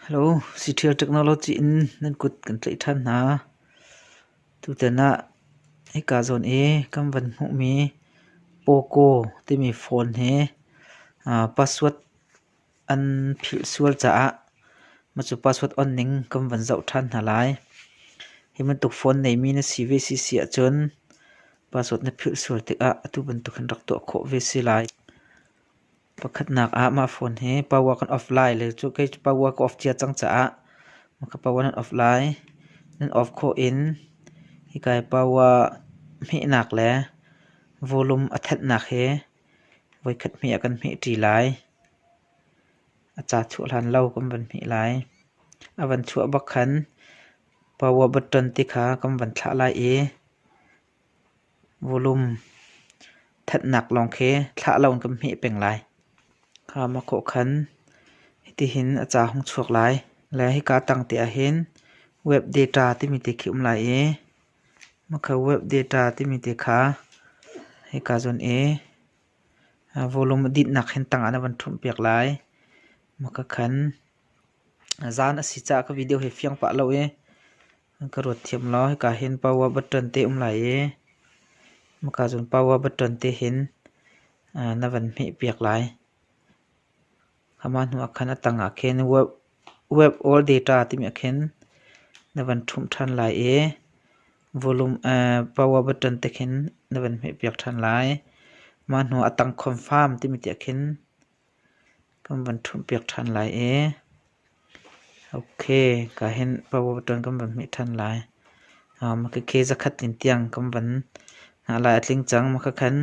Hello, Citial Technology in nan kut kan tlaih ṭhan hna. Tutan ah hika zawn i kan van hmuhmi Poco timi phone hi password An philh sual caah mahcu password on ning kan van zoh ṭhan hna lai. Hi bantuk phone neimi na si ve si si ahcun password na philh sual tikah atu bantuk hin rak tuah khawh ve si lai. Pakhatnak ah mah phone hi power kan off lai le cu kei cu power ka off cia cang caah maka power nan off lai. Nan off khawh in hikai power hmehnak le volume a thenhnak hi Voikhat hmei ah kan hmeh ṭi lai. A ca chuah hlan lo kan van hmeh lai. A van chuah bak khan power button ti kha kan van thlah lai i volume thatnak lawng khi thlah lo in kan hmeh peng lai. Kha ma khawh khan hitihin a ca hung chuak lai. Le hika tang te ah hin web data timi te khi um lai i Makha web data timi te kha hika cun i volume adinh nak hin tangah na van ṭhumh piak lai. Makha khan zan asi caah ka video hi fiang pah lo i ka ruat thiam lo. Hika hin power button te um lai i makha cun power button te hin na van hmeh piak lai. Amah hnuah khan a tangah khin web or data timi ah khin na van ṭhumh ṭhan lai i volume power button te khin na van hmehpiak ṭhan lai. Mah hnuah a tang confirm timi tiah khin kan van ṭhumhpiak ṭhan lai i Ok, ka hen power button kan van hmeh ṭhan lai. Maka khe zakhat tin tiang kan van lai a tling cang. Maka khan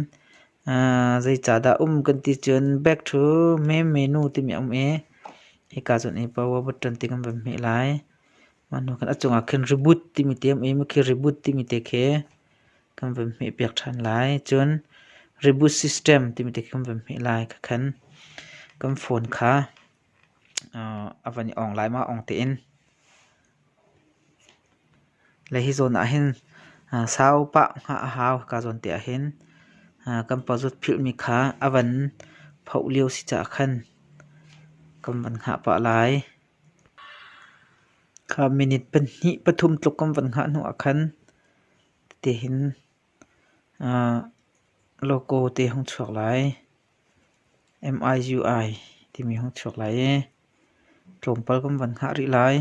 zeicahdah um kan ti cun back to meme nu timi a um i hika cun i power button ti kan van hmeh lai. Mah hnu khan a cungah khin reboot timi te a um i maka reboot timi te khe kan van hmeh piak ṭhan lai. Cun reboot system timi te khi kan van hmeh lai. Ka khan kan phone kha. a van i ong laimah ong tein. Le hi zawn ahhin sau pah hngah a hau ka zawn te ahhin kan pazut philhmi kha a van phoh lio si caah khan kan van hngah pah lai. Kha minute pahnih pathum tluk kan van hngah hnu ahkhan tete hin logo te hung chuak lai. MIZU ai timi hung chuak lai i tlawmpal kan van hngah rih lai.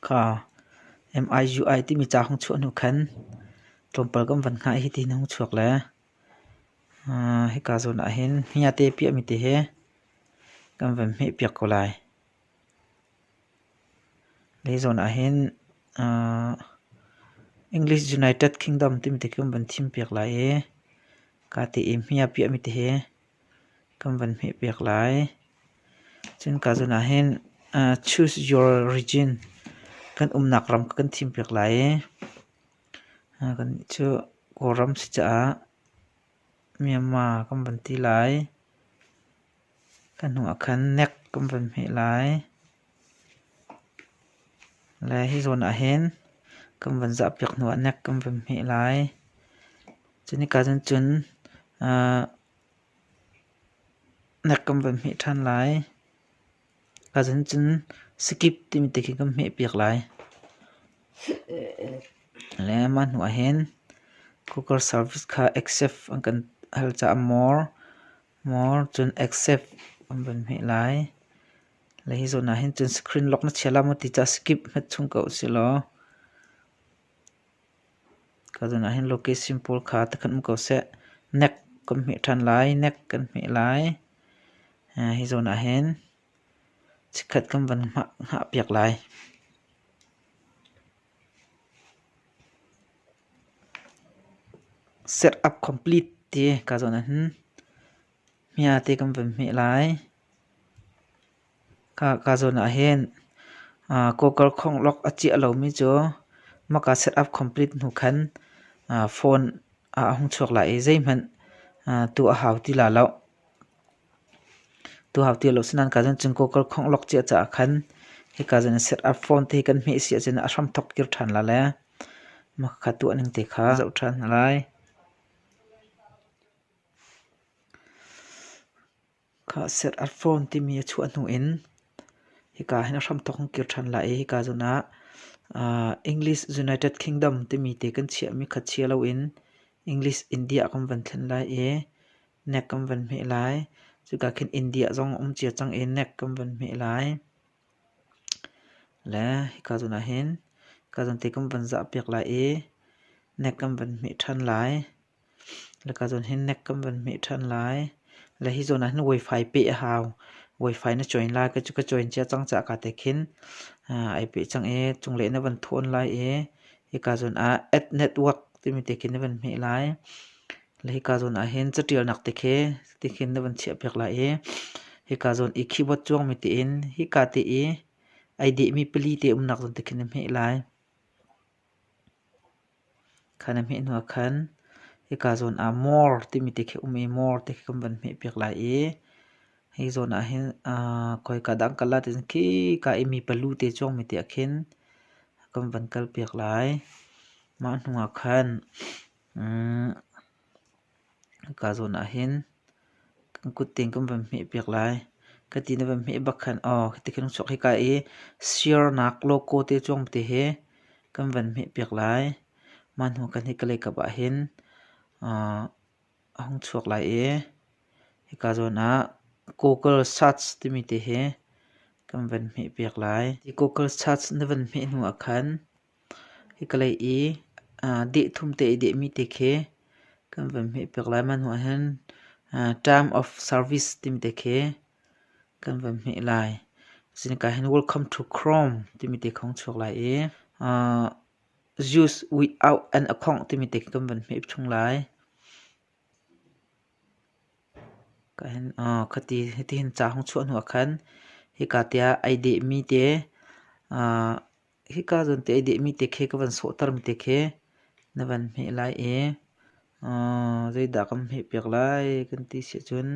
Ka MIZU ai timi ca hung chuah hnu khan tlawmpal kan van hngah i hitin hung chuak le hika zawn ahhin hniate piahmi te hi kan van hmehpiak ko lai. Hi zawn ahhin English United Kingdom timi ti khi kan van thim piak lai i kaa ti i hmia piahmi ti hi kan van hmeh piak lai. Cun kaa zawn ahhin choose your region kan umnak ram kha kan thim piak lai i kan cu Kawlram si caah. Myanmar kan van ti lai. Kan hnu ah khan Nek kan van hmeh lai. Le hi zawn ah hin kan van zah piak hnu ah Nek kan van hmeh lai. Cu ni ka cun cun Nek kan van hmeh ṭhan lai. A sen cun sakip timi te khi kan hmehpiak lai. Le mah hnuah hin cooker service kha accept an kan hal caah more, more cun accept an van hmeh lai. Le hi zawn ah hin cun screen lock na chia la maw ti caah skip hmet chung ko usihlaw. Tuzan ahhin location pawl kha ti khat um ko seh. Nek kan hmeh ṭhan lai, nek kan hmeh lai. Hi zawn ahhin chikkhat kan van hngah piak lai. Set-up complete ti ka zawn ahhin hmia te kan van hmeh lai. Ka zawn ah hin kawkar khonglok a ciah lomi cu hmaka setup complete hnu khan phone ah a hung chuak lai i zeihmanh tuah a hau ti la lo. Tuah a hau ti lo. Asinain ka zawn cun kawkar khonglok ciah caah khan hika zawn in setup phone te hi kan hmeh si ahcun a hramthok kir ṭhan la le hmaka kha tuah ning te kha zoh ṭhan hna lai. Kha set a phone timi a chuah hnu in hika hin a hramthawk kan kir ṭhan lai i hika zun ah uh, English United Kingdom timi te kan chiahmi khat chia loin English India kan van thlen lai i NEC kan van hmeh lai. Cuka khin India zong um cia cang i NEC kan van hmeh lai. Le hika zun ah hin hika zun te kan van zah piak lai i NEC kan van hmeh ṭhan lai. Laka zawn hi nek kan van hmeh ṭhan lai. Le hi zawn ahhin wifi peh a hau. Wifi na join lai ka cu ka join cia cang cah ka te khin ai peh cang i cunglei na van ṭhuan lai i hika zawn ah add network timi te khin na van hmeh lai. Le hika zawn ahhin caṭialnak te khi ti khin na van chiah piak lai i hika zawn i keyboard cuangmi tiin hika te i ai dehmi pali te umnak zawn te khin na hmeh lai. Kha na hmeh hnuah khan hika zawn ah more timi te khi um i more te khi kan van hmehpiak lai i hi zawn ah hin aa khoika dang colour te khika i mi palu te cuangmi te ah khin kan van kalpiak lai. Mah hnuah khan, umm, Ka zawn ah hin kan kut tein kan van hmeh piak lai. Ka ti na van hmeh bak khan aw ti khin chuak hika i sirnak logo te cuang te hi kan van hmeh piak lai. Mah hnu khan hika lei kap ah hin a hung chuak lai i hika zawn ah Google Search timi te hi kan van hmeh piak lai. Google Search na van hmeh hnu ah khan. Hikalei i deh thum te i dehmi te khi kan van hmehpiak lai. Mah hnuah hin time of service timi te khi kan van hmeh lai. Sinika hin welcome to Chrome timi te khong chuak lai i use without an a khongh timi te kan van hmeh chung lai. Hiti hin ca hong chuah hnuah khan hika tiah ai dehmi te hika zan te i dehmi te khe ka van sawhtermi te khe na van hmeh lai i zeidah kan hmeh piak lai kan ti si ahcun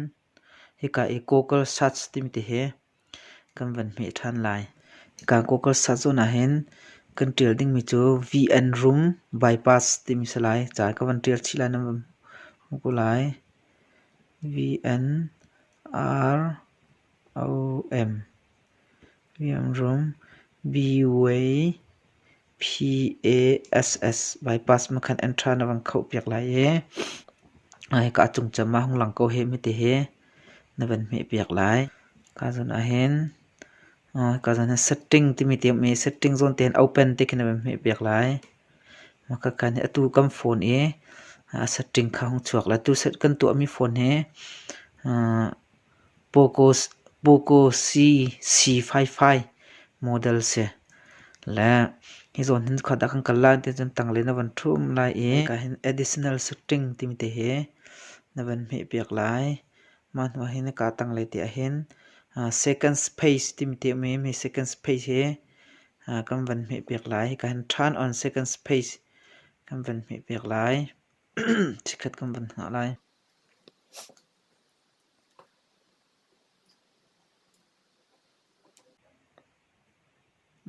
hika i Cockle Suds timi te hi kan van hmeh ṭhan lai. Hika Cockle Suds zawn ahhin kan ṭial dingmi cu V-N Room Bypass timi si lai. Ca ka van ṭial chih lai nan van hmuh ko lai. V-N R O M Liamrom Byway PASS bypass makhan an tha na van khoh piak lai i hika a cung cem ah hung lang ko he mete he na van hmeh piak lai. Hika zon ahhin hika zon ah setting timi te um i setting zawn te hin open te khi na van hmeh piak lai. Makhakan hi atu kan phone i a setting kha hung chuak lai. Tu set kan tuahmi phone hi Pocosi C55 model si. Le hi zawn hin khuat ah kan kal lai ti cun tanglei na van ṭhum lai i hika hin additional setting timi te hi na van hmeh piak lai. Mah hnu ah hin hika tanglei te ah hin second space timi te um i mi second space hi kan van hmeh piak lai. Hika hin turn on second space kan van hmeh piak lai. Chikkhat kan van hngah lai.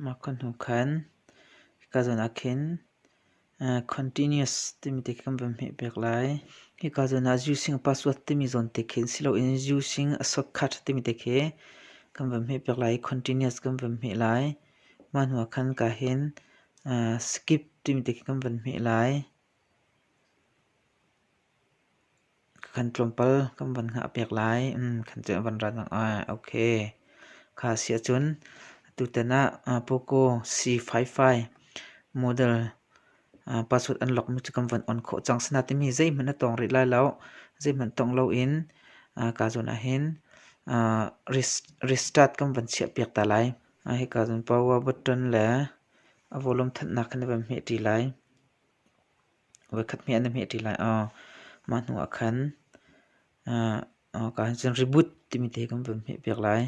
Mah ka hnu khan ka zawn ah khin continuous timi te khi kan van hmeh peng lai. Hika zawn ah using a password timi zawn te khin siloin using a shortcut timi te khi kan van hmeh peng lai i continuous kan van hmeh lai. Mah hnu ah khan ka hin skip timi te khi kan van hmeh lai. Ka kan tlawmpal kan van hngah pek lai. Kan cu van rat nak ah ok. Kha si ahcun tutan ah Poco C55 model password an lok mi cu kan van on khawh cang. Sina timi zeihmanh na tong rih lai lo. Zeihmanh tong lo in ka zun ah hin restart kan van chiah piak ta lai. Hi ka zun power button le a volume thanhnak khan na van hmeh ṭi lai. voikhat hmeh an na hmeh ṭi lai aw. Mah hnu ah khan kaa cun reboot timi te kan van hmeh piak lai.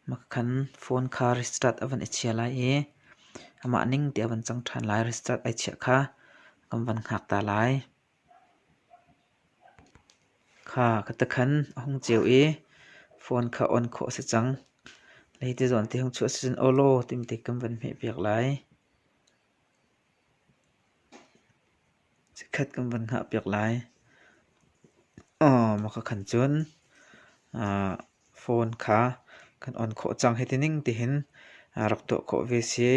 Mah khan phone kha restart a van i chia lai i amah ning ti a van cang ṭhan lai. Restart ai chiah kha kan van hngak ta lai. Kha ka takhan a hung ceu i phone kha on khawh a si cang. Lei te zawn te hung chuah si cun aw law timte kan van hmeh piak lai. Chikkhat kan van hngah piak lai. Maka khan cun phone kha kan on khawh cang. Hi ti ning tihin rak tuah khawh ve si.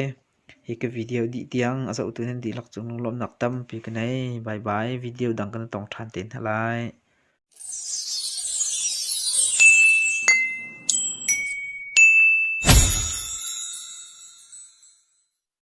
Hi ka video dih tiang a zohtu nan dihlak cung lunglawmhnak tampi ka nei. Bye bye. Video dang kan tong ṭhan te hna lai.